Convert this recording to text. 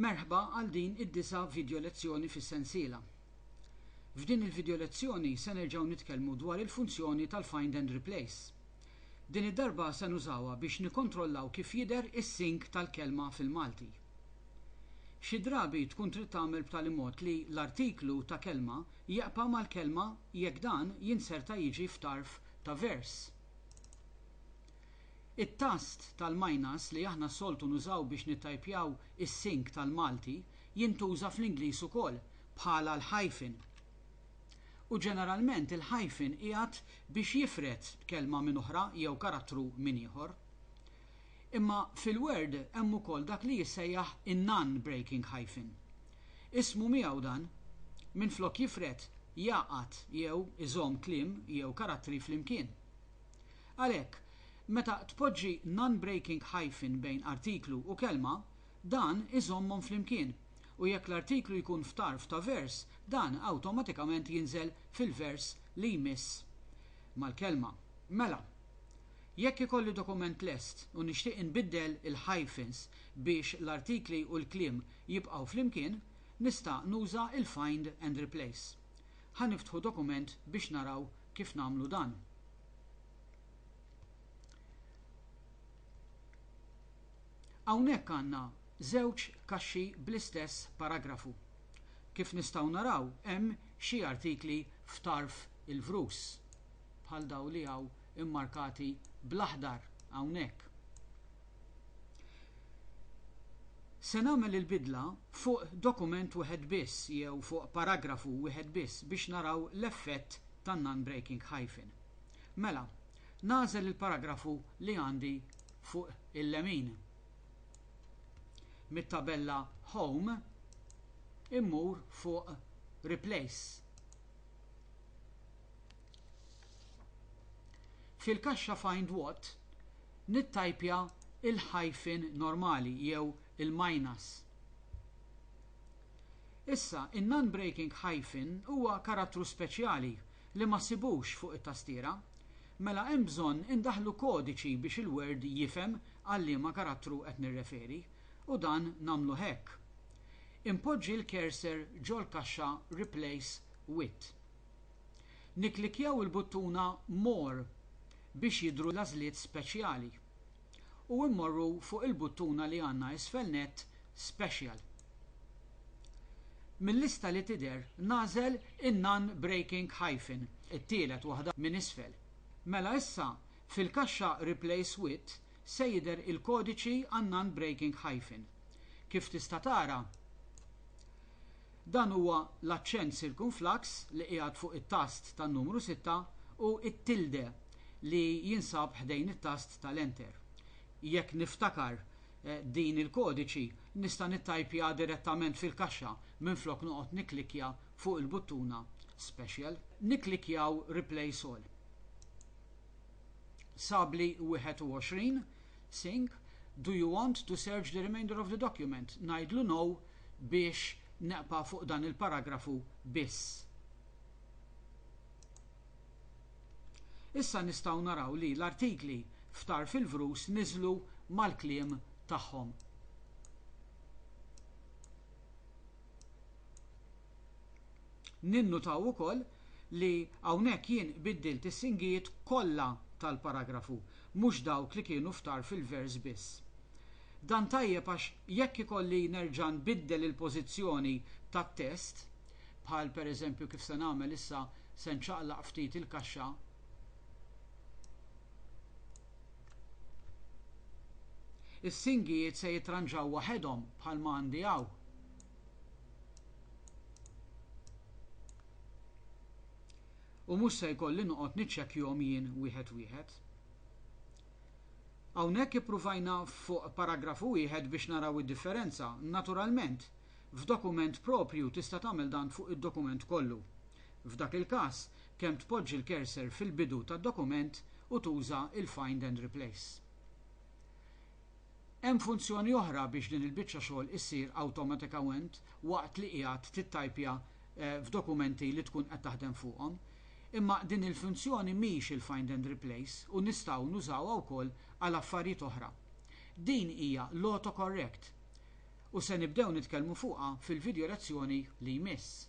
Merħba għal din id-disa' vidjo lezzjoni fis-sensiela. F'din il-vidjo lezzjoni se nerġgħu nitkellmu dwar il-funzjoni tal-Find and Replace. Din id-darba se nużawha biex nikkontrollaw kif jidher is-sync tal-kelma fil-Malti. Xi drabi tkun trid tagħmel b'tali mod li l-artiklu ta' kelma jeqpa' mal-kelma jekk dan jinserta jiġi f'tarf ta' vers. It-tast tal-minus li aħna soltu nużaw biex nittajpjaw is-sink tal-Malti jintuża fl-Ingliż ukoll bħala l-hyphen. U ġeneralment il-hyphen qiegħed biex jifred kelma minn oħra jew karattru minn ieħor. Imma fil-Word hemm ukoll dak li jissejjaħ in-non-breaking hyphen. Ismu miegħu dan, minflok jifred, jgħaqqad jew iżomm kliem jew karattri flimkien. Għalhekk, meta tpoġġi non-breaking hyphen bejn artiklu u kelma, dan iżommhom flimkien, u jekk l-artiklu jkun f'tarf ta' vers, dan awtomatikament jinżel fil-vers li jmiss mal-kelma. Mela, jekk ikolli dokument lest u nixtieq inbiddel il-hyphens biex l-artikli u l-kliem jibqgħu flimkien, nista' nuża l-find and replace. Ħa niftħu dokument biex naraw kif nagħmlu dan. Hawnhekk għandna żewġ kaxxi bl-istess paragrafu. Kif nistgħu naraw hemm xi artikli f'tarf il-vrus, bħal daw li hawn immarkati bl-aħdar hawnhekk. Se nagħmel il-bidla fuq dokument wieħed biss jew fuq paragrafu wieħed biss biex naraw l-effett tan-non-breaking hyphen. Mela, nagħżel il-paragrafu li għandi fuq il-lemin. Mit-tabella Home immur fuq Replace. Fil-kaxxa Find What nittajpja l-hyphen normali jew il-minus. Issa, in-non-breaking hyphen huwa karattru speċjali li ma ssibux fuq it-tastiera. Mela hemm bżonn indaħħlu kodiċi biex il-Word jifhem għal liema karattru qed nirreferi, u dan nagħmluh hekk. Inpoġġi l-cursor ġol-kaxxa Replace With. Nikklikkjaw il-buttuna More biex jidhru l-għażliet speċjali. u mmorru fuq il-buttuna li għandna isfel nett Special. Mil-lista li tidher nagħżel in-Non Breaking Hyphen, it-tielet waħda minn isfel. Mela issa fil-kaxxa Replace With se jidher il-kodiċi għan-Non Breaking Hyphen. Kif tista' tara, Dan huwa l-aċċent sirkumflaks li qiegħed fuq it-tast tan-numru sitta u t-tilde li jinsab ħdejn it-tast tal-enter. Jekk niftakar din il-kodiċi nista' nittajpja direttament fil-kaxxa minflok noqgħod nikklikkja fuq il-buttuna Special. Nikklikkjaw Replace All. Sabli 21, Sync, Do you want to search the remainder of the document? Ngħidlu no biex neqpa' fuq dan il-paragrafu biss. Issa nistgħu naraw li l-artikli f'Tarf il-Vrus niżlu mal-kliem tagħhom. Ninnutaw ukoll li hawnhekk jien biddilt is-singijiet kollha tal-paragrafu, mhux dawk li kienu f'tarf il-vers biss. Dan tajjeb għax jekk ikolli nerġa' nbiddel il-pożizzjoni tat-test, bħal pereżempju kif se nagħmel issa se nċaqlaq ftit il-kaxxa, is-singijiet se jitranġaw waħedhom bħalma għandi hawn. u mhux se jkolli noqgħod niċċekkjhom jien wieħed wieħed. Hawnhekk ippruvajna fuq paragrafu wieħed biex naraw id-differenza. Naturalment, f'dokument proprju tista' tagħmel dan fuq id-dokument kollu. F'dak il-każ, kemm tpoġġi l-cursor fil-bidu tad-dokument u tuża l-find and replace. Hemm funzjoni oħra biex din il-biċċa xogħol issir awtomatikament waqt li qiegħed tittajpja f'dokumenti li tkun qed taħdem fuqhom. Imma din il-funzjoni mhix il-find and replace u nistgħu nużawha wkoll għal affarijiet oħra. Din hija l-autocorrect u se nibdew nitkellmu fuqha fil-vidjo lezzjoni li jmiss.